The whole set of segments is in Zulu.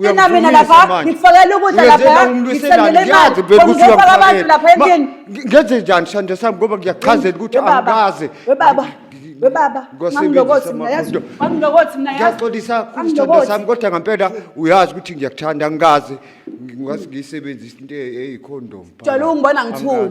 Thina mina lapha ngikufakela ukudla lapha ngisendele imali ngifaka abantu lapha endlini ngenze njani sande sami ngoba ngiyachazela ukuthi angikaze webaba webaba ngangilokothi mina yazi ngangilokothi mina yazi ngiyaxolisa kusithando sami kodwa ngempela uyazi ukuthi ngiyakuthanda angikaze ngingase ngiyisebenzise into eyikhondom jalo ungibona ngithule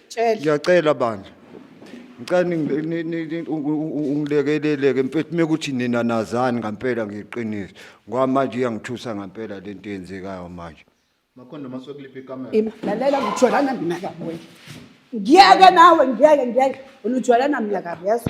Tshela. ngiyacela bandla ngicela ningi- ni- ni- ni- u- u- u- ungilekeleleke mfethu mekuthi nina nazani ngampela ngiqiniso ngoba manje iyangithusa ngampela le nto eyenzekayo manje Makhondo masokuliphi ikamera? Ima, lalela ngijwalana mina kabi wena ngiyeke nawe ngiyeke ngiyeke wena ujwalana mina kabi yazi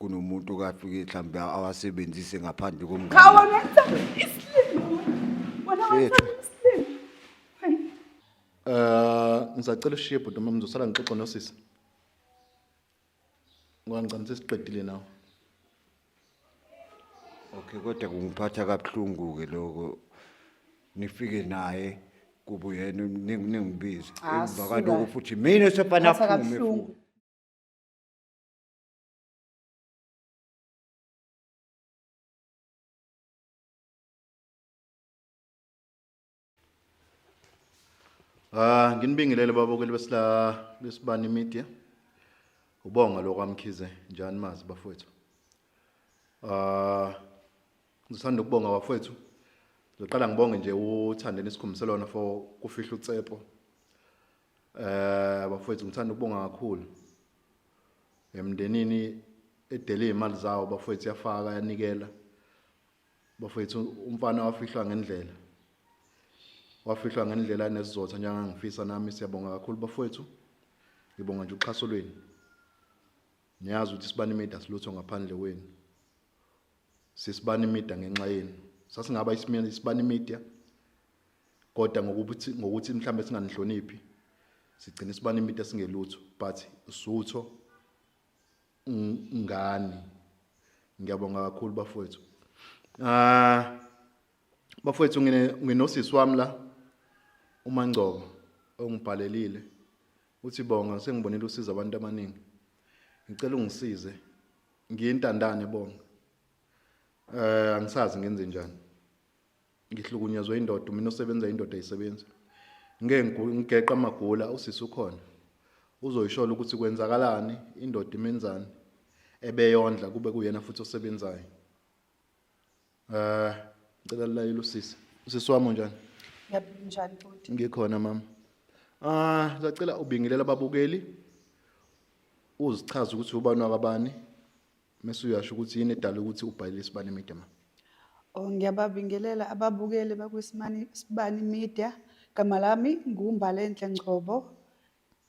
kunomuntu okafike mhlawumbe awasebenzise ngaphandle komngane Khawa ngithanda isilimo. Wena Mfethu. wathanda isilimo. Hayi. Eh ngisacela ushiye bhuti uma ngizosala ngixoxe nosisi. Ngoba ngicela sesiqedile nawe. okay kodwa kungiphatha kabuhlungu-ke loko nifike naye kuba uyena ning- ningibize Ah, emva suka. kwaloko futhi mina sefana Phatha aphume kabuhlungu. futhi Ah nginibingelele baba kwelibesila lesibani media. Ubonga lo kwaMkhize njani mazi bafowethu. Ah ngisanda ukubonga bafowethu. Ngizoqala ngibonge nje uthandeni isikhumbuselwana for kufihla utsepo. Eh bafowethu ngithanda ukubonga kakhulu emndenini edele izimali zawo bafowethu yafaka yanikela bafowethu umfana wafihlwa ngendlela wafihlwa ngendlela nesizotha njengangifisa nami siyabonga kakhulu bafowethu ngibonga nje uxhaso lwenu niyazi ukuthi sibani media silutho ngaphandle kwenu sisibani media ngenxa yenu sasingaba isimeni isibani media kodwa ngokuthi ngokuthi mhlambe singanihloniphi sigcina isibani media singelutho but usutho ngani ngiyabonga kakhulu bafowethu ah bafowethu ngine nginosisi wami la uma ngcobo ongibhalelile uthi bonga sengibonile usiza abantu abaningi ngicela ungisize ngiyintandane bonga eh angisazi ngenze njani ngihlukunyezwe indoda mina osebenza indoda isebenza ngeke ngigu- ngigeqa amagula usisi ukhona uzoyishola ukuthi kwenzakalani indoda imenzani ebeyondla kube kuyena futhi osebenzayo Eh, ngicela lilayile usisi. Usisi wami unjani? Ngiyabingelela njani bhuti? Ngikhona mama. Ah, ngicela ubingelela ababukeli. Uzichaza ukuthi ubani wakabani. Mese uyasho ukuthi yini edala ukuthi ubhalile isibani media mama. Oh ngiyababingelela ababukeli bakwisimani Sibani Media. Igama lami nguMbalenhle Ngcobo.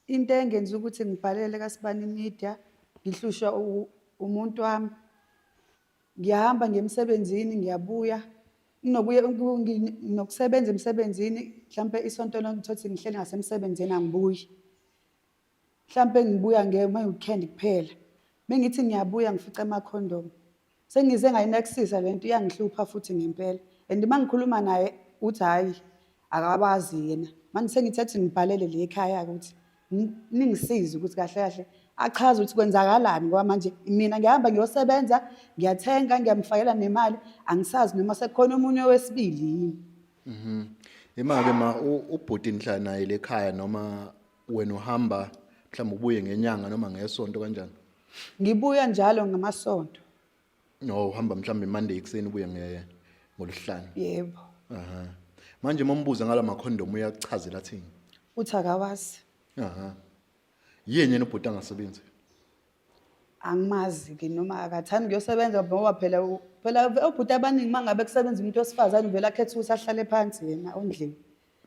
Into engenza ukuthi ngibhalele kaSibani Media ngihlushwa u- umuntu wami. ngiyahamba ngiye emsebenzini ngiyabuya nginokuya nginokusebenza emsebenzini mhlampe isonto lonke ngithothi ngihleli ngasemsebenzini angibuyi mhlampe ngibuya ngeke uma weekend kuphela bengithi ngiyabuya ngifica amakhondom sengize ngayinexisa lento iyangihlupha futhi ngempela and uma ngikhuluma naye uthi hhayi akabazi yena manje sengithi athi ngibhalele le ekhaya ukuthi ningisize ukuthi kahle kahle achaze ukuthi kwenzakalani ngoba manje mina ngihamba ngiyosebenza ngiyathenga ngiyamfakela nemali angisazi noma sekukhona omunye wesibili yini mhm imake ma ubhuti inhla naye lekhaya noma wena uhamba mhlawumbe ubuye ngenyanga noma ngesonto kanjani ngibuya njalo ngamasonto no uhamba mhlawumbe monday ekuseni ubuye nge ngoluhlanu yebo aha manje uma umbuza ngala makhondomu uyakuchazela athini uthi akawazi aha yini yena ubhuti angasebenzi angimazi-ke noma akathandi kuyosebenza ngoba phela u- phela ve- obhuti abaningi uma ngabe kusebenza umuntu wesifazane uvele akhethe ukuthi ahlale phansi yena ondlini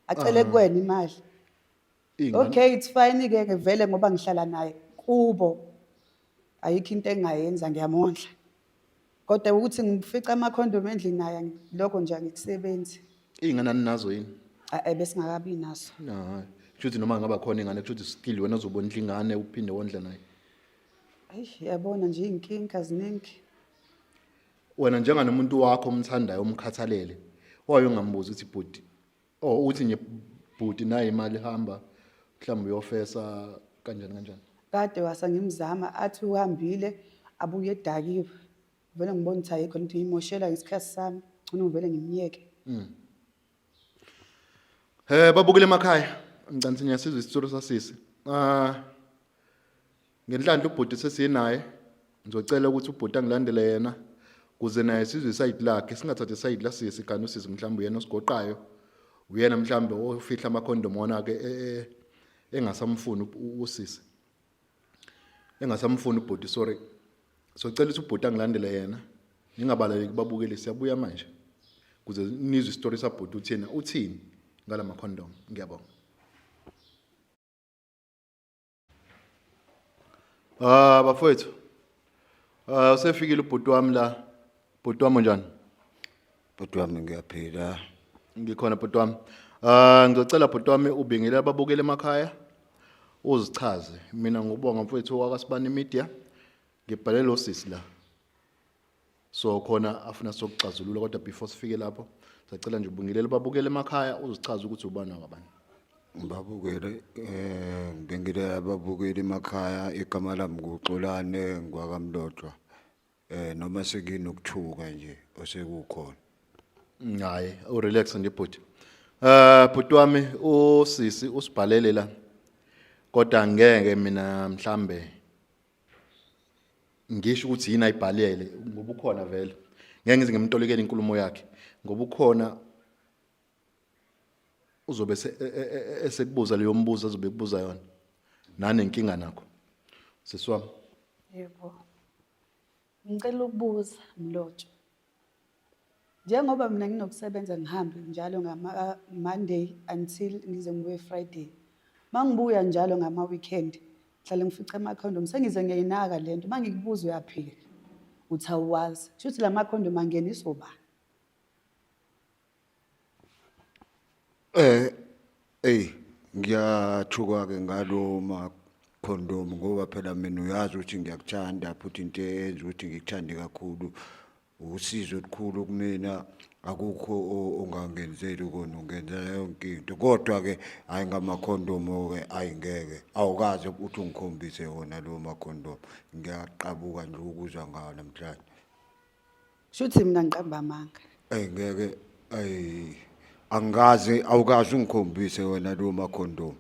acele kuwena imali Iy'ngane- okay it's fine ke ke vele ngoba ngihlala naye kubo ayikho into engingayenza ngiyamondla kodwa ukuthi ngifica amakhondomu endlini naye angi- lokho nje angikusebenzi iy'ngane aninazo yini A- eh, besingakabi naso hayi kusho ukuthi noma ngaba khona ingane kusho ukuthi still wena uzobondla ingane uphinde wondla naye ayi yabona nje iy'nkinga ziningi wena njenganomuntu wakho omthandayo omkhathalele waye ungambuzi ukuthi bhuti or oh, uthi nje bhuti naye imali hamba mhlawumbe uyofesa kanjani kanjani kade wasa ngimzama athi uhambile abuye edakiwe vele ngibona ukuthi ayikho nto ngimoshela ngesikhathi sami ngcono ngivele ngimyeke um hmm. eh, babukile emakhaya mcanisini yasizwa isitsolo sasisi um ah, Ngenhlanhla ubhuti sesinaye ngizocela ukuthi ubhuti angilandele yena kuze naye sizwe isayidi lakhe singathathi isayidi lasisi kanti usisi mhlawumbe uyena osigoqayo uyena mhlawumbe ofihla amakhondomu wona-ke e, e, e, engasamfuni usisi engasamfuni ubhuti sorry socela ukuthi ubhuti angilandele yena ningabaleki babukeli siyabuya manje kuze nizwe isitori sabhuti uthina uthini ngala makhondomu ngiyabonga Ah bafowethu. Ah usefikile ubhuti wami la. Bhuti wami unjani? Bhuti wami ngiyaphila. Ngikhona bhuti wami. Ah ngizocela bhuti wami ubingele ababukele emakhaya. Uzichaze. Mina ngubonga mfowethu wakasibani media. Ngibhalele osisi la. so khona afuna sokuxazulula kodwa before sifike lapho sacela nje ubungilele babukele emakhaya uzochaza ukuthi ubani wakabani babukele eh ngibengile ababukeli emakhaya igama lami kuxolane ngwakamlotshwa eh noma sekinokuthuka nje osekukhona hayi u relax nje bhuti eh bhuti wami usisi usibhalele la kodwa ngeke mina mhlambe ngisho ukuthi yini ayibhalele ngoba ukhona vele ngeke ngize ngimtolekele inkulumo yakhe ngoba ukhona uzobe e, e, e, esekubuza leyo mbuzo azobe ekubuza yona nanenkinga nakho sisiwami yebo ngicela ukubuza mlotshwa Njengoba mina nginokusebenza ngihambe njalo ngama-Monday until ngize ngibuye Friday. Uma ngibuya njalo ngama-weekend ngihlale ngifica amakhondomu sengize ngiyayinaka le nto uma ngikubuza uyaphika uthi awuwazi kusho ukuthi la makhondomu angeniswa ubani Eh ey ngiyathuka ke ngalo ma condom ngoba phela mina uyazi ukuthi ngiyakuthanda futhi into eyenza ukuthi ngikuthande kakhulu usizo olukhulu kumina akukho ongangenzeli kona ungenzela yonke into kodwa ke hayi ngamakhondomo ke ayingeke awukaze ukuthi ungikhombise wona lo makhondomo ngiyaqabuka nje ukuzwa ngawo namhlanje Shuthi mina ngiqamba amanga. Ey ngeke ay angikaze awukaze ungikhombise wena lo makhondomu.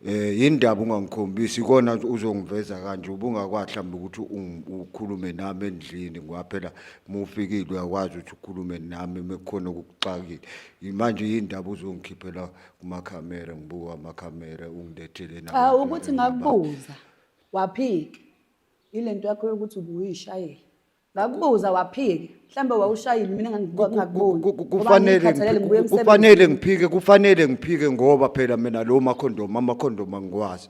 Eh indaba ungangikhombisi ikona uzongiveza kanje ubungakwazi mhlawumbe ukuthi ungi- ukhulume nami endlini ngoba phela mufikile uyakwazi ukuthi ukhulume nami mekukhona okukuxakile. Manje indaba uzongikhiphela kuma camera ngibuka ama camera ungilethele na. Cha ukuthi ngakubuza waphika. Ilento yakho yokuthi ubuyishayela. ngakubuza waphike mhlawumbe wawushayile mina ngangikuboni kufanele kufanele ngiphike kufanele ngiphike ngoba phela mina lo makhondomu amakhondomu angiwazi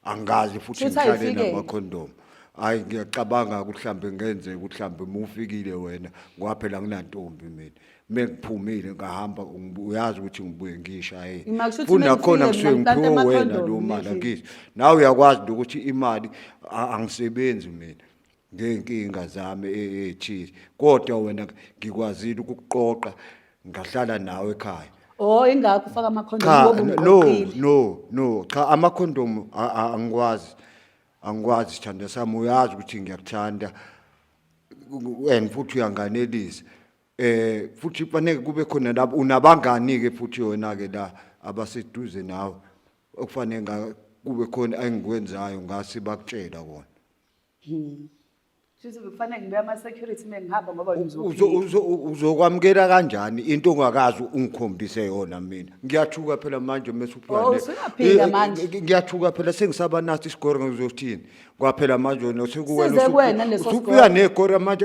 angazi futhi ngihlale namakhondomu hayi ngiyacabanga kuhlambe ngenze kuhlambe mufikile wena ngoba phela nginantombi mina mengiphumile ngahamba uyazi ukuthi ngibuye ngisha yini futhi nakhona kusuke ngiphiwe wena lo mali angizwa nawe uyakwazi ukuthi imali angisebenzi mina ngeenkinga zami eechili kodwa wena ngikwazile ukukuqoqa ngahlala nawe ekhaya oh ingakho ufaka amakhondomu cha ngoba no umqoqile no no cha amakhondomu a- a- angikwazi angikwazi sithanda sami uyazi ukuthi ngiyakuthanda and futhi uyanganelisa eh futhi kufanele kube khona lapho unabangani ke futhi yona ke la abaseduze nawe okufanele nga- kube khona engikwenzayo ngase bakutshela kona Hmm. Sisi kufanele ngibe ama security mengihamba ngoba uzokwamukela kanjani into ongakazi ungikhombise yona mina ngiyathuka phela manje oh, eh, ngiyathuka phela sengisaba nathi isigore ngizothini kwaphela manje wena sekuwena usubuya negore manje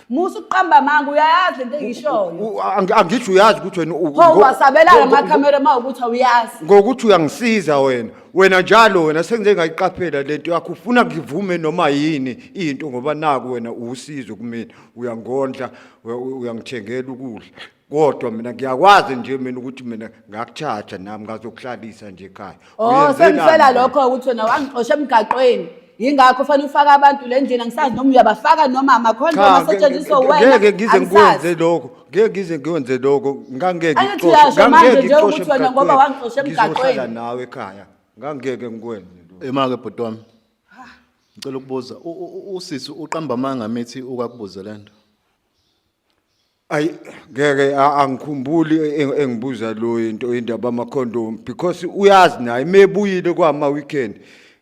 Musa uqamba manga uyayazi lento engishoyo. Angisho uyazi ukuthi wena u- Pho ngo- wasabelana ngo- ngo- amakhamera uma ukuthi awuyazi. ngokuthi uyangisiza wena wena njalo wena sengize ngayiqaphela lento yakho ufuna ngivume noma yini into ngoba naku wena uwusizo kumina uyangondla we- u- uyangithengela ukudla kodwa mina ngiyakwazi nje mina ukuthi mina ngakuthatha nami ngazokuhlalisa nje ekhaya Oh Uyenzelani sengifela wena? lokho ukuthi wena wangixosha emgaqweni. Yingakho fanele ufake abantu le ndlela ngisazi noma uyabafaka noma amakhondomu Cha, nge- asetshenziswa nge- wena. ngeke ngize angisazi. ngikwenze lokho ngeke ngize ngikwenze lokho ngangeke Angithi ngixoshe- uyasho manje ngangeke nje ngixoshe ukuthi wena ngoba emgaqweni. wangixosha emgaqweni. Ngizohlala nawe ekhaya ngangeke ngikwenze lokho. Imake bhuti wami. Ngicela ukubuza u- u- u- usisi uqamba amanga mithi ukakubuze lento. Ayi ngeke a- angikhumbuli eng- engibuza lo into indaba amakhondomu because uyazi naye mebuyile kwama weekend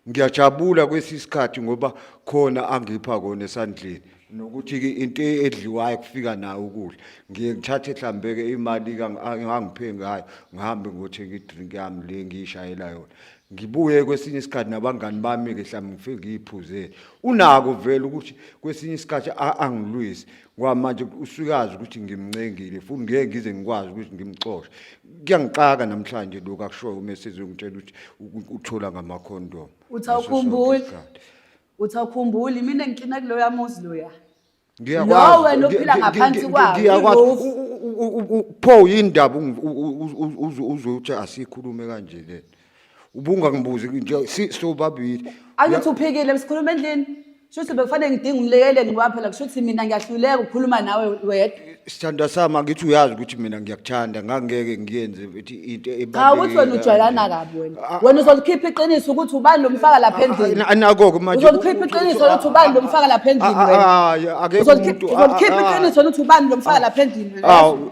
ngiyajabula kwesisikhathi ngoba khona angipha kona esandleni nokuthi ke into edliwayo kufika nayo ukudla ngiye ngithathe hlambeke imali kangi- angangiphe ngayo ngihambe ngothenga idrink yami le ngiyishayela yona ngibuye kwesinye isikhathi nabangani bami ke mhlawumbe ngifike ngiyiphuzele unako vele ukuthi kwesinye isikhathi a- angilwisi kwamanje usukazi ukuthi ngimncengile futhi ngeke ngize ngikwazi ukuthi ngimxoshe kuyangixaka namhlanje lokho akushoyo uma esezongitshela ukuthi u- uthola ngamakhondomu Uthi awukhumbuli? uthi awukhumbuli mina ngikina kuloyo amuzi loya Ngiyakwazi. Lo wena ophila Ngi- ngi- ngaphansi ngi- kwawo, ngiyakwazi. i-roof. U- u- u- u- u- pho yini ndaba ungi- u- u- u- uzo- uzothi asikhulume kanje le ubungangibuzi nje si- sobabili angithi uphikile msikhuluma endlini shuthi bekufanele ngidinga umlekeleli ngoba phela kusho ukuthi mina ngiyahluleka ukukhuluma nawe wedwa sithandwa sami angithi uyazi ukuthi mina ngiyakuthanda ngangeke ngiyenze ukuthi into cha ukuthi wena ujwayelana kabi wena Ah, wena uzolikhipha iqiniso ukuthi ubani lomfaka lapha endlini anako-ke manje uzolikhipha iqiniso lokuthi ubani lomfaka lapha endlini Ah, ah, wena ah, akekho Uzolikhipha- umuntu- ah, uzolikhipha ah, ah. iqiniso lokuthi ubani lomfaka lapha endlini wena Awu,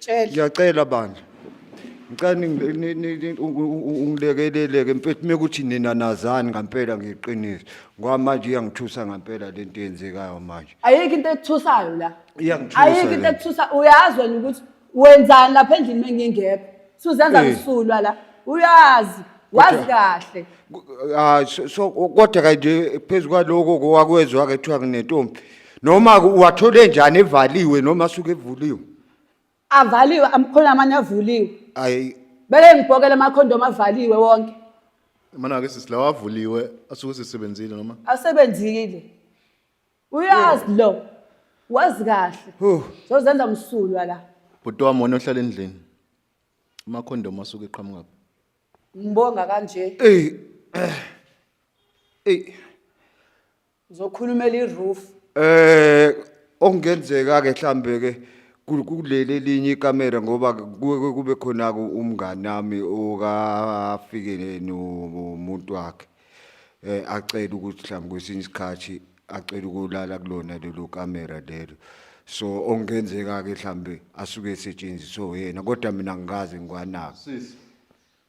Tshela. ngiyacela bandla ngicela ningi- ni- ni- ni- u- u- u- ungilekeleleke mfethu mekuthi nina nazani ngampela ngiqiniso ngoba manje iyangithusa ngampela le nto eyenzekayo manje ayikho into ekuthusayo la Iyangithusa ayikho into le. ekuthusa uyazi wena ukuthi wenzani lapha endlini mengingekho suzenza Eh. msulwa la uyazi wazi Kodwa- kahle Ku- ah, so- so- kodwa kanje phezu kwaloko kowakwezwa-ke kuthiwa nginentombi noma uwathole njani evaliwe noma asuke evuliwe avaliwe amkhona amanye avuliwe ayi beke ngibhokele amakhondomu avaliwe wonke mana ke sisi lawa avuliwe asuke sisebenzile noma asebenzile uyazi lo wazi kahle Huh. zozenza msulwa la bhuti wami wona ohlala endlini amakhondomu asuke eqhamuka phi ngibonga kanje eyi eyi Ngizokhulumela i-roof. Eh okungenzeka ke mhlambe ke ku- kuleli elinye ikamera ngoba kuke kube khona ku- umngani nami okafike nomuntu wakhe eh acela ukuthi mhlambe kwesinye isikhathi acela ukulala kulona lelo kamera lelo so okungenzeka ke mhlambe asuke esetshenziswe yena kodwa mina ngikaze ngikwanaka Sisi.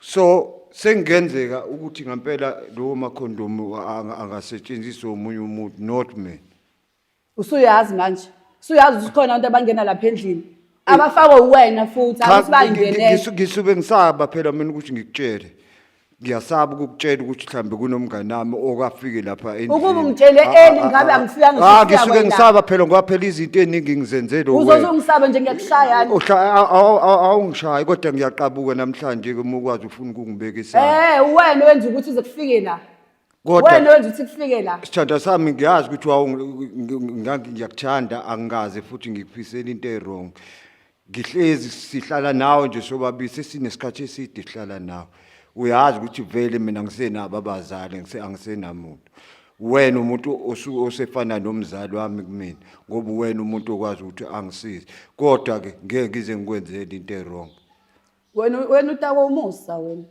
so sengenzeka ukuthi ngampela lowo makhondomu angasetshenziswa omunye umuntu not me usuyazi manje usuyazi ukuthi khona abantu abangena lapha endlini abafakwe uwena futhi abathi bangenele ngisube ngisaba phela mina ukuthi ngikutshele ngiyasaba ukukutshela ukuthi mhlambe kunomngane nami okafike lapha endlini Ukuba ungitshele Ah, early, ah, ngabe ah, angifika ah, ngishisa ngisuke wena. ngisaba phela ngoba phela izinto eziningi ngizenzele uzoze wena. ungisabe nje ngiyakushayani Uhla- aw- aw- aw- awungishayi kodwa ngiyaqabuka namhlanje ke uma ukwazi ufuna ukungibeka isandla Eh wena wenza ukuthi uze kufike la. Wena kodwa wenza ukuthi kufike la. sithanda sami ngiyazi ukuthi wawu- ngi- ngi- ngangi- ngiyakuthanda angikaze futhi ngikufisela into e-wrong ngihlezi sihlala nawe nje sobabili sesinesikhathi eside sihlala nawe uyazi ukuthi vele mina ngisenabo abazali ngise angisenamuntu wena umuntu osu- osefana nomzali wami kumina ngoba wena umuntu okwazi ukuthi angisize kodwa ke ngeke ngize ngikwenzele into ewrong wena wena utakwa umusa wena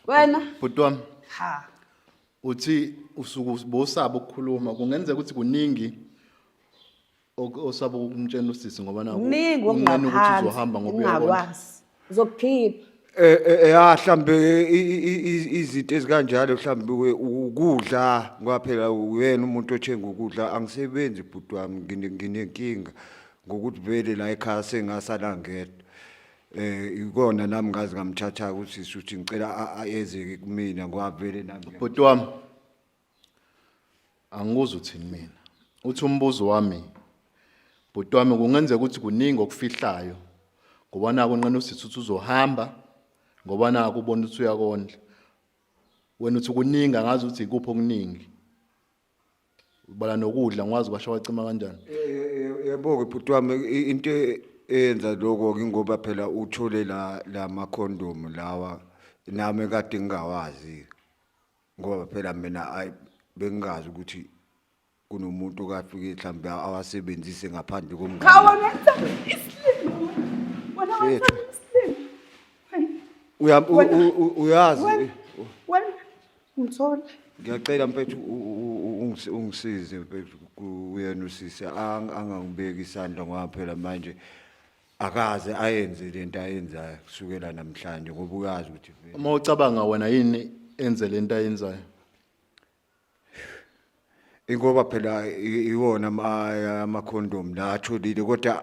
wena bhuti wami ha uthi usuku bosaba ukukhuluma kungenzeka ukuthi kuningi Ok- osaba ukumtshela usisi ngoba naku kuningi unqena ukuthi okungaphansi uzohamba ngoba uyabona ungakwazi uzokukhipha Eh eh, eh, ah mhlambe i- i- i- i- izinto ezikanjalo mhlambe we- ukudla ngoba phela uyena umuntu othenga ukudla angisebenzi bhuti wami ngine- nginenkinga ngokuthi vele la ekhaya sengasala ngedwa eh ikona nami ngazi ngamthatha ukuthi shuthi ngicela a- a- eze kumina ngoba vele nami ngiya- bhuti wami Angikuzwa uthini mina. Uthi umbuzo wami bhuti wami kungenzeka ukuthi kuningi okufihlayo ngoba naku unqena usisi ukuthi uzohamba ngoba naku ubona ukuthi uyakondla. Wena uthi kuningi angazi ukuthi ikuphi okuningi. Ubala nokudla ngwazi kwasho wacima kanjani. Yebo-ke bhuti wami i- into e- eyenza lokho ngingoba phela uthole la la makhondomu lawa nami kade ngingawazi. ngoba phela mina ayi bengingazi ukuthi kunomuntu okafike mhlawumbe awasebenzise ngaphandle komngane Khawona ngithanda isilima. Wena Mfethu. wathanda isilima. Hayi. Uya- u- Wena- u- u- uyazi Wena. Wena. Ngithola. ngiyacela mfethu u- u- u- ungisi- ungisize mfethu ku- uyena usisi ang- angangibeki isandla ngoba phela manje akaze ayenze lento ayenzayo kusukela namhlanje ngoba uyazi ukuthi vele uma ucabanga wena yini enze lento ayenzayo ingoba phela i- iwona ama- amakhondom la atholile kodwa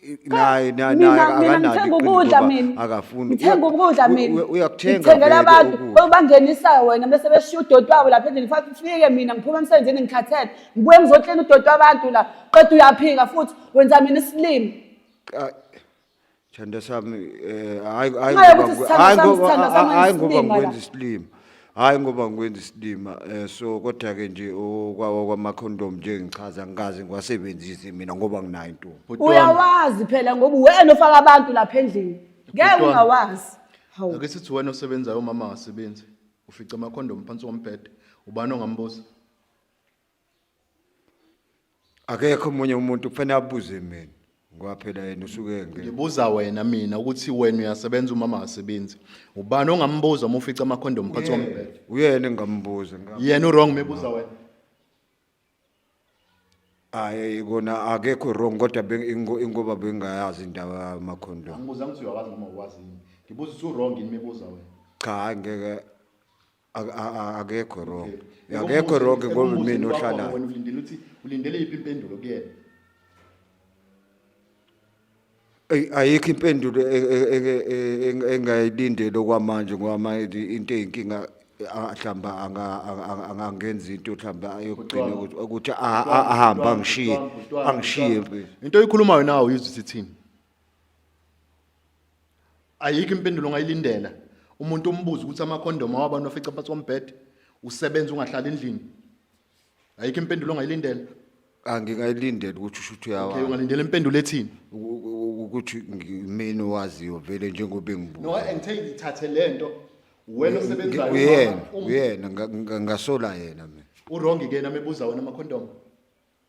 i- naye na- Mina- naye mina akanalo ngithenga iqiniso ukudla ngoba mina. akafuni ngithenga Uya- ukudla u- mina u- uyakuthenga ngithengela vele abantu ukudla. obangenisa wena bese beshiya udoti wabo lapha endlini futhi ufike mina ngiphuma emsebenzini ngikhathele ngibuye ngizoklina udoti wabantu la qeda uyaphika futhi Wenza mina isilima. Ay, Thanda sami eh hayi hayi Ngenxa ngoba yokuthi ngi- sithando hayi sami, ngoba sithando sami hayi ngoba ayisilima ngikwenza la. isilima. Hayi ngoba ngikwenza isilima eh so kodwa ke nje okwawa kwama condom nje ngichaza ngikaze ngiwasebenzise mina ngoba nginayo intombi. Bhuti wami, Uyawazi phela ngoba uwena ofaka abantu lapha endlini. Ngeke Bhuti wami. ungawazi. Hawu. ake sithi wena osebenzayo umama akasebenzi ufica amakhondomu phansi kombhede ubani ongambuza akekho omunye umuntu kufanele abuze mina ngoba phela yena usuke engeke ngibuza wena mina ukuthi wena uyasebenza umama akasebenzi ubani ongambuza uma ufica amakhondomu phansi kombhede uyena engambuza yena uwrong mebuza wena hayi kona akekho wrong kodwa beng- ingo- ingoba bengayazi indaba yamakhondomu angibuza ukuthi uyawazi noma uwazi yini ngibuza ukuthi uwrong yini mebuza wena cha hhayi ngeke Ak- a- a- akekho wrong Eka akekho umuhle, wrong eka ngoba umuhle mina wakho ohlalayo wena ulindele ukuthi ulindele yiphi impendulo kuyena Ey, ayikho impendulo e- e- e- e- eng- engayilindele okwamanje ngoba manje into eyinkinga ah, hlamba anga- anga- anga- angangenzi into hlamba ayokugcina Kuthiwa- ukuthi- ukuthi a- a- ahambe angishiye angishiye mfethu. into oyikhulumayo nawe uyizwa isithini ayikho impendulo ongayilindela umuntu umbuza ukuthi amakhondomu awabantu afica phansi kombhede usebenza ungahlali endlini ayikho impendulo ongayilindela angingayilindela ukuthi usho ukuthi uyawa okay ungalindela impendulo ethini ukuthi ngimini owaziyo vele njengoba engibuka no and take ithathe lento wena osebenzayo uyena uyena ngasola yena mina urongi ke nami ebuza wena amakhondomu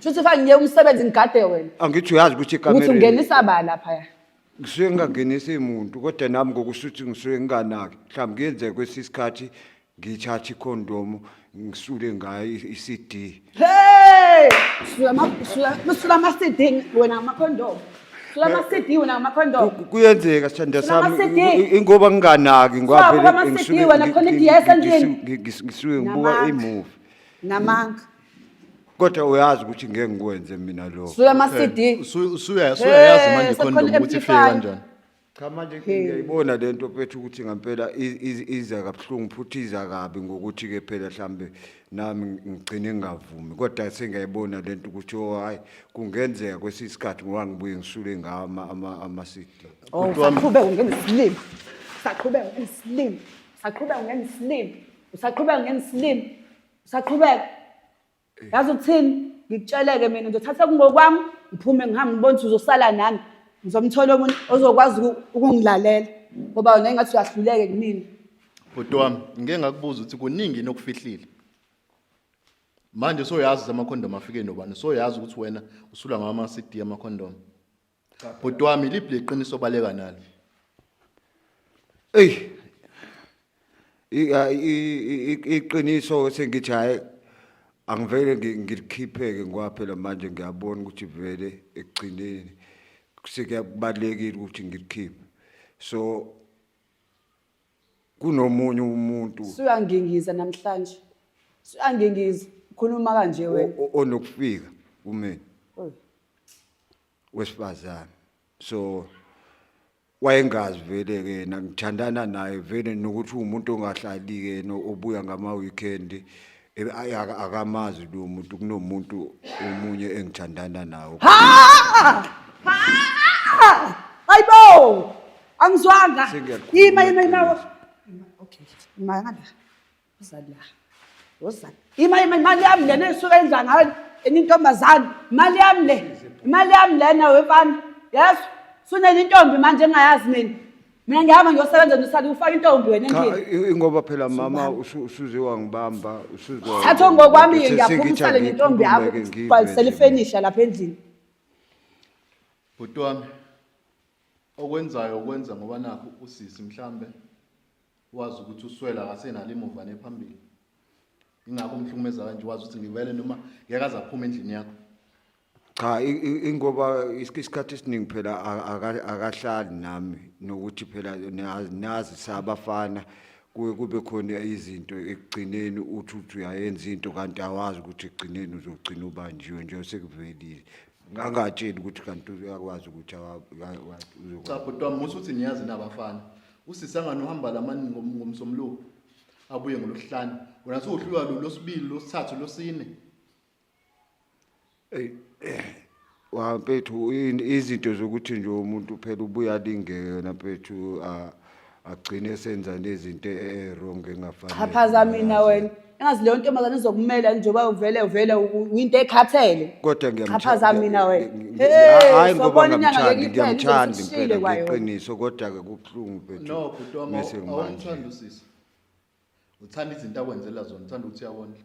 Shuthi fa ngiye umsebenzi ngigade wena. Angithi uyazi ukuthi Ukuthi ekamereni ungenisa ba laphaya. ngisuke ngingangenisi muntu kodwa nami ngokusuthi ngisuke nginganaki. Mhlawumbe kuyenzeka kwesinye isikhathi ngithathe ikhondomu ngisule ngayo i- i-CD. Hey! Sula ma sula sula ma CD wena ma condom. Sula ma CD wena ma condom. Ku- Kuyenzeka sithanda Sula sami ama-CD. i- i- ingoba nginganaki ngoba Sula, vele ama-CD ngisuke wena, ngi- khona ngi- idiya ngi- esandleni. ngi- ngi- ngisuke ngibuka Namanga. imuvi. Namanga. kodwa uyazi ukuthi ngeke ngikwenze mina lokho suya ama CD Eh, Usu- usuya- Usuyayazi manje Eh, ikhondomu sekhona ukuthi ifike amplifier. kanjani. cha manje ngiyayibona le nto phethu ukuthi ngampela i- i- iza kabuhlungu futhi iza kabi ngokuthi-ke phela mhlawumbe nami ngigcine ngingavumi kodwa sengiyayibona le nto ukuthi o hhayi kungenzeka kwesinye isikhathi ngoba ngibuye ngisule ngawo ama- ama- ama-cd oh saqhubeka ungena isilima saqhubeka ungena isilima saqhubeka ungena isilima usaqhubeka ungena isilima Saqhubeka. Yazi ukuthini? Ngikutsheleke mina ngizothatha kungokwami, ngiphume ngihambe ngibone ukuthi uzosala nami. Ngizomthola omuntu ozokwazi uku- ukungilalela ngoba wena engathi uyahluleke kumina. Bhuti wami, ngike ngakubuza ukuthi kuningi yini okufihlile. Manje soyazi amakhondomu afike nobani? Soyazi ukuthi wena usula ngama CD amakhondomu. bhuti wami liphi leqiniso obaleka nalo eyi i- a- i- i- i- iqiniso sengithi hhayi angivele ngi- ngilikhiphe-ke ngoba phela manje ngiyabona ukuthi vele ekugcineni sekuyakubalulekile ukuthi ngilikhiphe so kunomunye umuntu Suyangingiza namhlanje. Suyangingiza. Ukhuluma kanje o- wena. o- onokufika kumina Oy. wesifazane so wayengazi vele ke yena ngithandana naye vele nokuthi uwumuntu ongahlali ke yena obuya ngama-weekend Ebe ayi aka- akamazi lo muntu kunomuntu omunye engithandana nawo. Ha! Ha! Ayibo! Angizwanga. Sengiyakhuluma Yima yima yima. iqiniso. Okay. Yima ngala. Uza la. Uza. Yima yima imali yami lena esuka endla ngayo enye intombazane. Imali yami le. Imali yami lena wefana. Yes. Sunenye intombi manje engayazi mina. mina ngihamba ngiyosebenza nosabi ufake intombi wena Cha, endlini i- ingoba phela mama usu- usuze wangibamba usuze thatha wangibamba. ngokwami Uthe ngiyaphuma sengithi usale nentombi yakho angikhulume-ke ngizwe ubhalisele nje. ifenisha lapha endlini Bhuti wami okwenzayo ukwenza ngoba nakho usisi mhlambe wazi ukuthi uswela akasenalo imuva nephambili. Ingakho umhlukumeza kanje wazi ukuthi ngivele noma ngeke azaphuma endlini yakho. cha ingoba isikhathi esiningi phela akahlali nami nokuthi phela nazi sabafana kuye kube khona izinto ekugcineni uthi uthi uyayenza into kanti awazi ukuthi ekugcineni uzogcina ubanjiwe nje sekuvelile ngangatsheli ukuthi kanti uyakwazi ukuthi cha bhuti wami musa uthi niyazi nabafana usisangane uhamba lamani ngomsomluko abuye ngolosihlanu wena suwuhlulwa lolosibili losithathu losine Eh, eh, wa mfethu izinto zokuthi nje umuntu phela ubuya lingeke wena mfethu agcine senza nezinto e-wrong engafanele chaphaza mina wena engazi leyo ntombazane izokumela njengoba uvele uvele uyinto ekhathele kodwa ngiyamchaphaza mina wena hayi ngoba ngiyamthanda ngiyamthanda impela ngeqiniso kodwa ke kubuhlungu mfethu no bhuti wami awumthanda usisi uthanda izinto akwenzela zona uthanda ukuthi uyawondla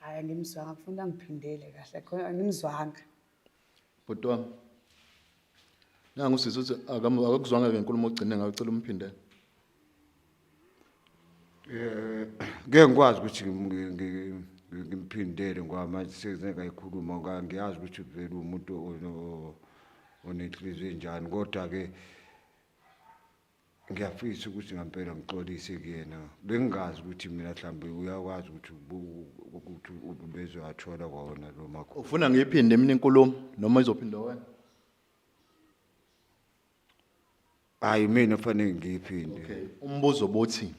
hayi angimzwanga kufuna angiphindele kahle khona angimzwanga bhuti wami nangu sisi uthi akamu- akakuzwanga ke nkulumo ogcine ngayo cela umphindele Eh, ngeke ngikwazi ukuthi ngim- ngi- ngi- ngi- ngimphindele ngoba manje sengikayikhuluma ngoba ngiyazi ukuthi vele umuntu ono- onenhliziyo enjani kodwa-ke ngiyafisa ukuthi ngampela ngixolise kuyena bengingazi ukuthi mina mhlawumbe uyakwazi ukuthi ubu- ukuthi ubezoyathola kwawona lo makho ufuna ngiyiphinde mina inkulumo noma izophinde wena hayi mina fanele ngiyiphinde okay umbuzo bothi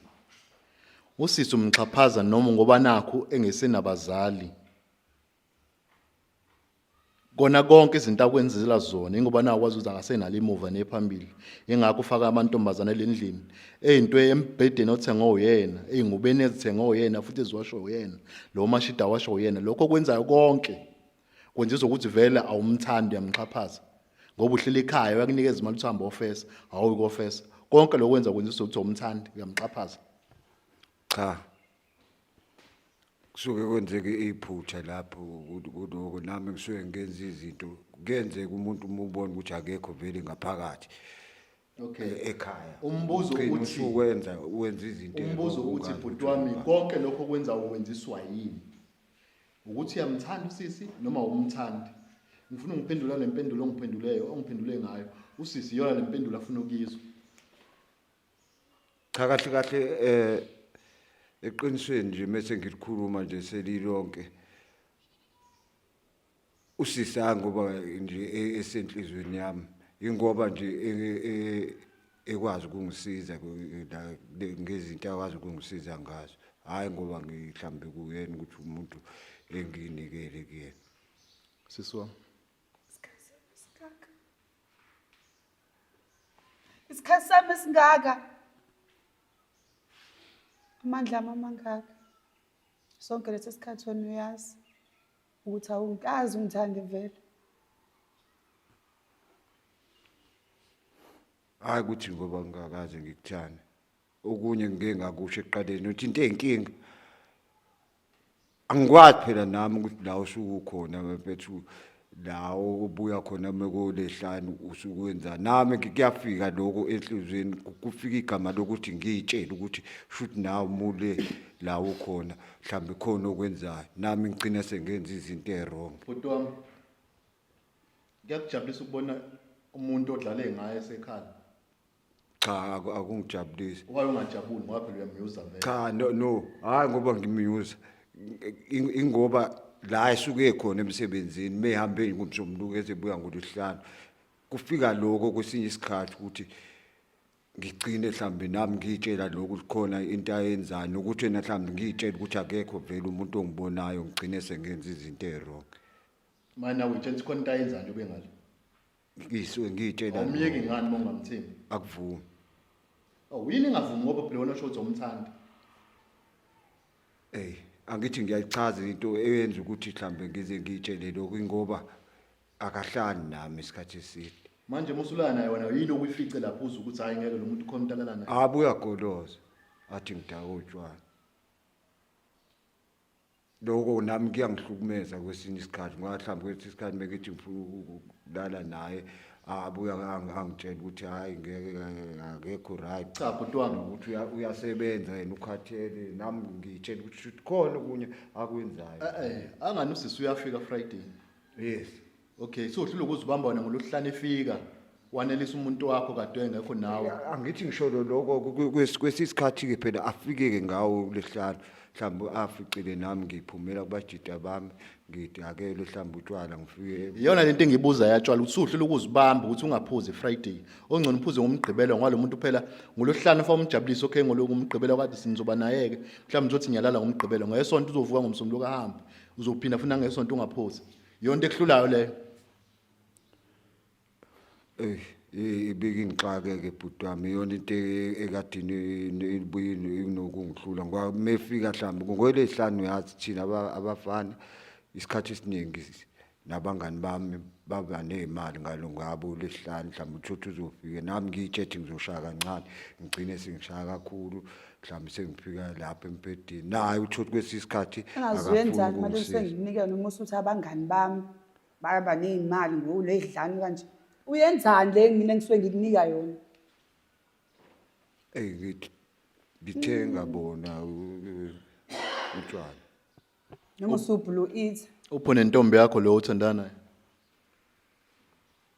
usisi umxhaphaza noma ngoba nakho engesenabazali kona konke izinto akwenzela zona ingoba nakwazi ukuthi angasenalo imuva nephambili ingakho ufaka amantombazane lendlini eyinto embhedeni othenge oyena eyingubeni ezithenge oyena futhi eziwasho uyena lo mashida washo uyena lokho kwenzayo konke kwenza izokuthi vele awumthandi uyamxhaphaza ngoba uhleli ekhaya uyakunikeza imali uthamba ofesa awuyi kofesa konke lokwenza kwenza izokuthi awumthandi uyamxhaphaza cha kusuke kwenzeke iphutha lapho kuloko nami ngisuke ngenza izinto kuyenzeka umuntu uma ubona ukuthi akekho vele ngaphakathi okay e-, ekhaya umbuzo uthi wenza wenza izinto umbuzo uthi bhuti wami konke lokho kwenza uwenziswa yini ukuthi uyamthanda usisi noma umthandi ngifuna ungiphendula lempendulo ongiphenduleyo ongiphendule ngayo usisi yona lempendulo afuna ukuyizwa cha kahle kahle eh eqinisweni nje mase ngilikhuluma nje selilonke usisi angoba nje e-, esenhlizweni yami ingoba nje e, e, ekwazi ukungisiza ngezinto akwazi ukungisiza ngazo hayi ngoba ngihlambe kuyena ukuthi umuntu enginikele kuyena siswa isikhathi sami esingaka amandla ami amangaka sonke lesi sikhathi wena uyazi ukuthi awungikazi ungithande vele hayi ukuthi ngoba ngingakaze ngikuthane okunye ngike ngakusho ekuqaleni uthi into ey'nkinga angikwazi phela nami ukuthi la usukukhona mfethu la obuya khona mekolehlanu usukwenza nami kuyafika lokho enhlizweni kufika igama lokuthi ngiyitshele ukuthi shuthi nawe mule la ukhona mhlawumbe khona okwenzayo nami ngigcina sengenza izinto ewrong bhuti wami ngiyakujabulisa ukubona umuntu odlale ngaye esekhala cha aku- akungijabulisi Why ungajabuli ngoba phela uyamyuza vele. cha no no hayi ngoba ngimyuza In- ingoba la esuke khona emsebenzini mehambe ngomsombuluko ezebuya ngoluhlanu kufika lokho kwesinye isikhathi ukuthi ngigcine mhlambe nami ngiyitshela lokhu likhona into ayenzani ukuthi yena mhlambe ngiyitshela ukuthi akekho vele umuntu ongibonayo ngigcine sengenza izinto eziwrong Manje nawe utshela ukuthi khona into ayenzayo ube ngale. ngisuke ngiyitshela awumyeki ngani uma ungamthembi akuvumi awu yini ingavumi ngoba phela wena usho ukuthi awumthandi ey angithi ngiyayichaza into eyenza ukuthi mhlambe ngize ngiyitshele lokhu ingoba akahlali nami isikhathi eside manje musulana naye wena yini okuyifice lapho uze ukuthi hayi ngeke lo muntu khona umntalala naye abuya goloza athi ngidaka utshwala loko nami kuyangihlukumeza kwesinye isikhathi ngoba mhlawumbe kwesinye isikhathi mekithi ngifuna ukulala naye abuye angitshela ukuthi hhayi ngeke akekho right cha bhuti wami ukuthi uyasebenza yena ukhathele nami ngiyitshela ukuthi khona okunye akwenzayo eh, eh, angani usisi uyafika friday yes okay so uhlulwa ukuzibamba wena ngoluhlane efika wanelisa umuntu wakho kade engekho nawe angithi ngisho lo- lokho ku- ku- kwesi- kwesisikhathi-ke phela afike-ke ngawo kulesihlanu mhlawumbe aficile nami ngiphumela kubajida bami ngidakele mhlawumbe utshwala ngifike iyona lento engibuza yatshwala ukuthi uhlulwa ukuzibamba ukuthi ungaphuzi friday ongcono uphuze ngomgqibelo ngoba lo muntu phela ngoluhlane fa umjabulise okay ngoloku umgqibelo kade sinizoba naye-ke mhlawumbe ngizothi ngiyalala ngomgqibelo ngesonto uzovuka ngomsombuluko ahambe uzophinda futhi nangesonto ungaphuzi yonto ekuhlulayo leyo Eh, i- ibikingixake ke bhuti wami iyona into e- ekadini ibuye inokungihlula ngoba mefika mhlawumbe ngokwelehlanu uyazi thina aba- abafana isikhathi esiningi s- nabangani bami baba ney'mali ngalo ngabo lesihlanu mhlawumbe uthotha uzofike nami ngiyitshethi ngizoshaya kancane ngigcine sengishaya kakhulu mhlawumbe sengifika lapha embhedeni naye uthotha kwesinye isikhathi engaziyenzani mali senginike noma usuthi abangani bami bayaba ney'mali ngowuley'dlani kanje uyenzani le mina engisuke ngikunika yona eyi ngithi ngithe ngabona utshwala noma usubhulu eat upho nentombi yakho lo othandana naye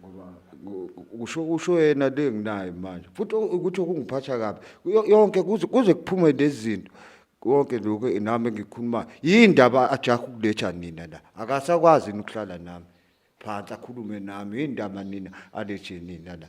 ngoba usho usho yena le nginayo manje futhi ukuthi okungiphatha kabi yo- yonke kuze kuze kuphume lezi zinto konke lokho nami engikhulumayo yini ndaba ajaha ukuletha nina la akasakwazi yini ukuhlala nami phansi akhulume nami yini ndaba nina alethe nina la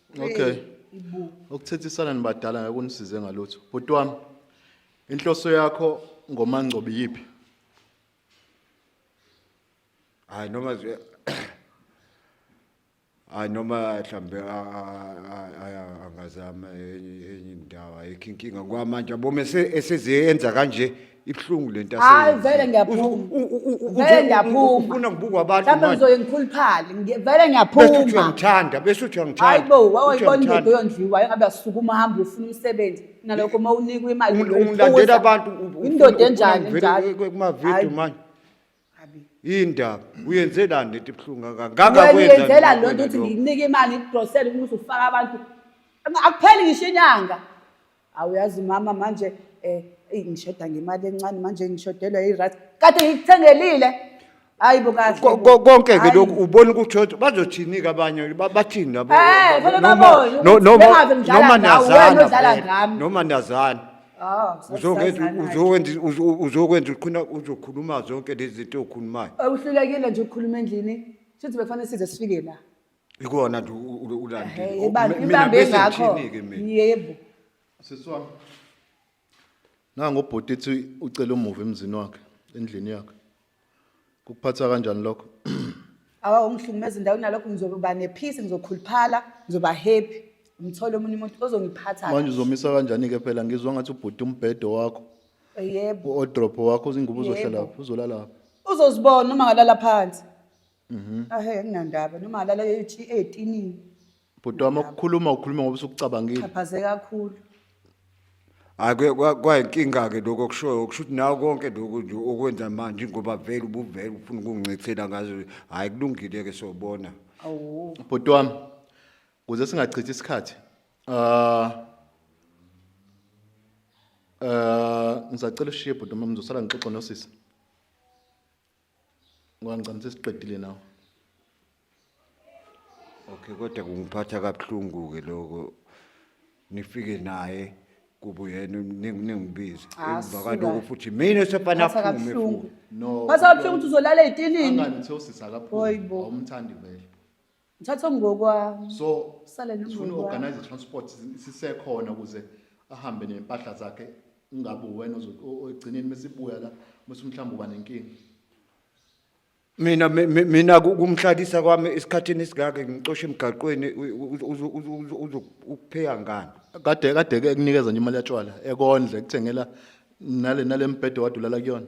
Okay. Ukuthethisana nibadala akunisize ngalutho. Bhuti wami inhloso yakho ngomangcobi yipi? Hayi noma nje Hayi noma mhlambe angazama enye enye indawo ayikho inkinga kwamanje abome esezenza kanje ibuhlungu le nto Hayi, aseyenza. vele ngiyaphuma. Uzo- u- u- u- u- Vele uzo- ngiyaphuma. u- ufuna kubukwa abantu Mhlawumbe manje. ngizoye ngikhuluphale. Ngi- Vele bese uthi ngiyaphuma. uyangithanda bese uthi uyangithanda Hayi bo, Uthi wawayibona indoda uyangithanda. oyondliwa engabe asukuma hamba ufuna umsebenzi. Nalokho uma unikwa imali Ungi- ungilandela abantu u- u- indoda ufuna- enjani ufuna ngivele njalo. ku- ku- kumavidiyo Hayi. manje indaba uyenzelani lento ibuhlungu kangaka ngenzela lo nto ukuthi ngikunike imali igrosele ukuthi ufake abantu akupheli ngisho inyanga awuyazi mama manje um ngishoda ngemali encane manje ngishodelwa irat kade ngikuthengelile hayi bokonke ke lokhu ubona ukuthi othi bazothini-ke abanye bathini eh, noma niyazana noma niyazana Ah, uzokwenza uzokwenza uzokwenza uqhina uzokhuluma zonke lezi zinto okhulumayo awuhlulekile nje ukukhuluma endlini shuthi bekufanele size sifike la ikona nje ulandile ibambe ngakho yebo siswa nango bhuti ethi ucela umuva emzini wakhe endlini yakhe Kukuphatha kanjani lokho? Awa ungihlukumeza indawo kunalokho ngizoba nephisi ngizokhuluphala ngizoba happy ngithole omunye umuntu ozongiphatha Manje uzomisa kanjani ke phela ngizwa ngathi ubhuti umbhedo wakho, yebo uodrop wakho, izingubo uzohlala Yebo. lapho, uzolala lapho. uzozibona uma ngalala phansi Mhm. ahe nginandaba noma alala ethi etinini Bhuti wami ukukhuluma ukhuluma ngoba usukucabangile. xhaphaze kakhulu Hayi kuye- kwa- kwayinkinga ke lokho okushoyo kusho ukuthi nawe konke lokhu nje okwenza manje ngoba vele ubuvele ufuna ukungicethela ngazo hayi kulungile ke sobona. awu Bhuti wami kuze singachithi isikhathi. Ah Eh ngisacela ushiye bhuti uma ngizosala ngixoxa nosisi. Ngoba ngicela sesiqedile nawe. Okay kodwa kungiphatha kabuhlungu ke lokho. Nifike naye kubo yena ningibize. Ah, Emvakalo suka. lokho futhi mina sefana Phatha aphume kabuhlungu. futhi. No. Phatha kabuhlungu ukuthi uzolala ey'tilini. Angani uthe usisi Hoyi bo. akaphumi. Awumthandi vele. ngithatha ongokwami so sale sifuna organize transport sisekhona ukuze ahambe nempahla zakhe ungabe wena ogcineni mesibuya la mase mhlawumbe uba nenkingi mina mina kumhlalisa kwami esikhathini esingaka ngicoshe emgaqweni uzokupheya ngani kade kade ke kunikeza nje imali yatshwala ekondle kuthengela nale nalembhedo wadulala kuyona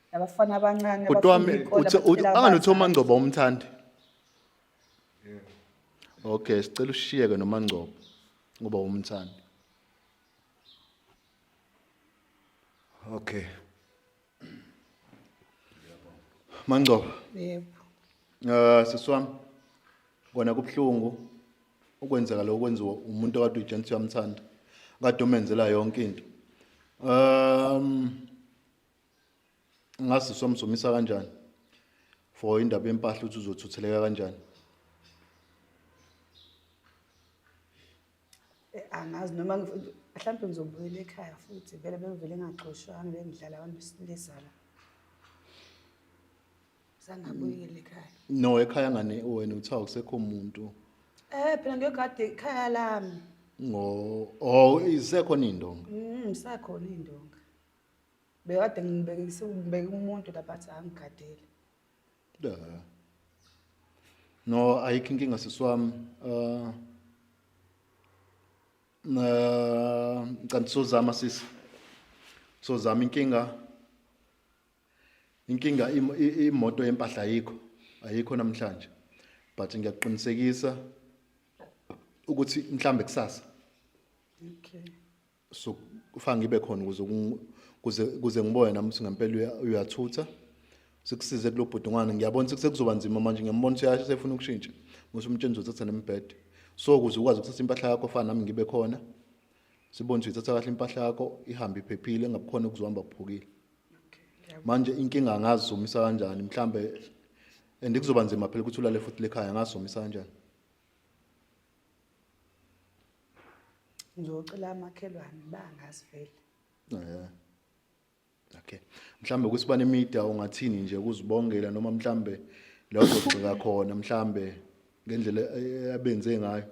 nabafana abancane bhuti wami anganothi umangcobo umthandi okay sicela ushiyeke nomangcobo ngoba umthandi okay mangcobo yebo eh siswami kona kubhlungu ukwenzeka lokho kwenziwa umuntu okade ujensi uyamthanda kade umenzela yonke into um ngazi somsomisa kanjani for indaba yempahla ukuthi uzothutheleka kanjani Eh, angazi noma ngif- mhlawumbe ngizobuyela ekhaya futhi vele bengivele ngaxoshwanga bengidlala abantu besilisa la sangabuyela ekhaya no ekhaya ngane wena uthiwa kusekho muntu um phela ngiyogade ikhaya lami ngo oh isekhona indonga um isakhona iy'ndonga Bekade ngibekise ngibeke umuntu lapha athi angigadele. Da. No, ayikho inkinga siswami. Uh na ngicela sozama sisi. Sozama inkinga. Inkinga im- i- imoto yempahla ayikho. Ayikho namhlanje. But ngiyakuqinisekisa ukuthi mhlambe kusasa Okay. so kufanele ngibe khona ukuze kuze kuze ngibone nami ukuthi ngempela uyathutha sikusize kulobhudungwana ngiyabona ukuthi sekuzoba nzima manje ngiyambona ukuthi yasho sefuna ukushintsha muthi umtsheni uzothatha nembhede so ukuze ukwazi ukuthatha impahla yakho fana nami ngibe khona sibone ukuthi ithatha kahle impahla yakho ihambe iphephile ngabukhona ukuzohamba kuphukile manje inkinga ngazizumisa kanjani mhlambe and kuzoba nzima phela ukuthi ulale futhi lekhaya ngazizumisa kanjani ngizocela amakhelwane bangazi vele yeah. okay mhlambe ukuthi banemida ungathini nje kuzibongela noma mhlambe la uzogxika khona mhlambe ngendlela eh, abenze ngayo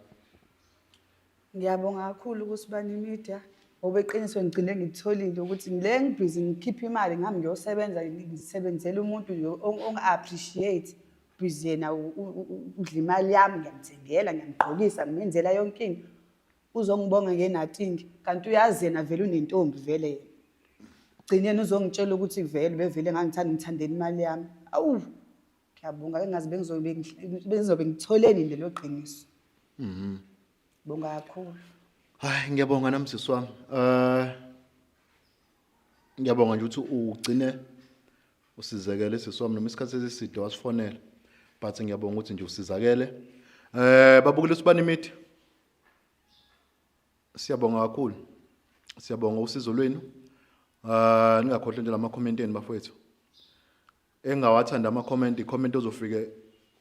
ngiyabonga kakhulu ukuthi banemida ngoba eqiniso ngigcine ngitholile ukuthi ngile ngibhizi ngikhiphe imali ngami ngiyosebenza ngisebenzela umuntu ongi-appreciate Busy yena u- u- u- u- udla imali yami ngiyamthengela ngiyamgqokisa ngimenzela yonke into uzongibonga nge-nothing kanti uyazi yena vele unentombi vele yena gcine yena uzongitshela ukuthi vele bevele ngangithanda ngithandela imali yami awu ngiyabonga engazi bengizobe ngi- bengizobe ngitholeni lelo qiniso bonga kakhulu Hayi ngiyabonga nami sisi wami. Eh ngiyabonga nje ukuthi ugcine usizekele sisi wami noma isikhathi esiside wasifonela but ngiyabonga ukuthi nje usizakele eh babukile usibani imithi siyabonga kakhulu siyabonga usizo lwenu ah ningakhohlwa nje lama comment enu bafowethu engawathanda ama comment comment ozofike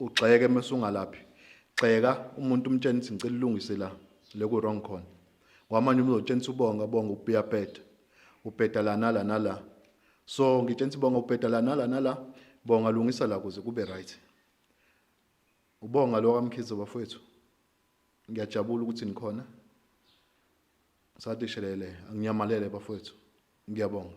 ugxeke mase ungalaphi gxeka umuntu umtshene ukuthi ngicela ulungise la le ku wrong khona ngoba manje umuntu uzotshena ubonga bonga ubiyabheda ubheda la nala nala so ngitshela ukuthi bonga ubheda la nala nala bonga lungisa la kuze kube right ubonga lo kamkhize bafowethu ngiyajabula ukuthi nikhona sadishelele anginyamalele bafowethu ngiyabonga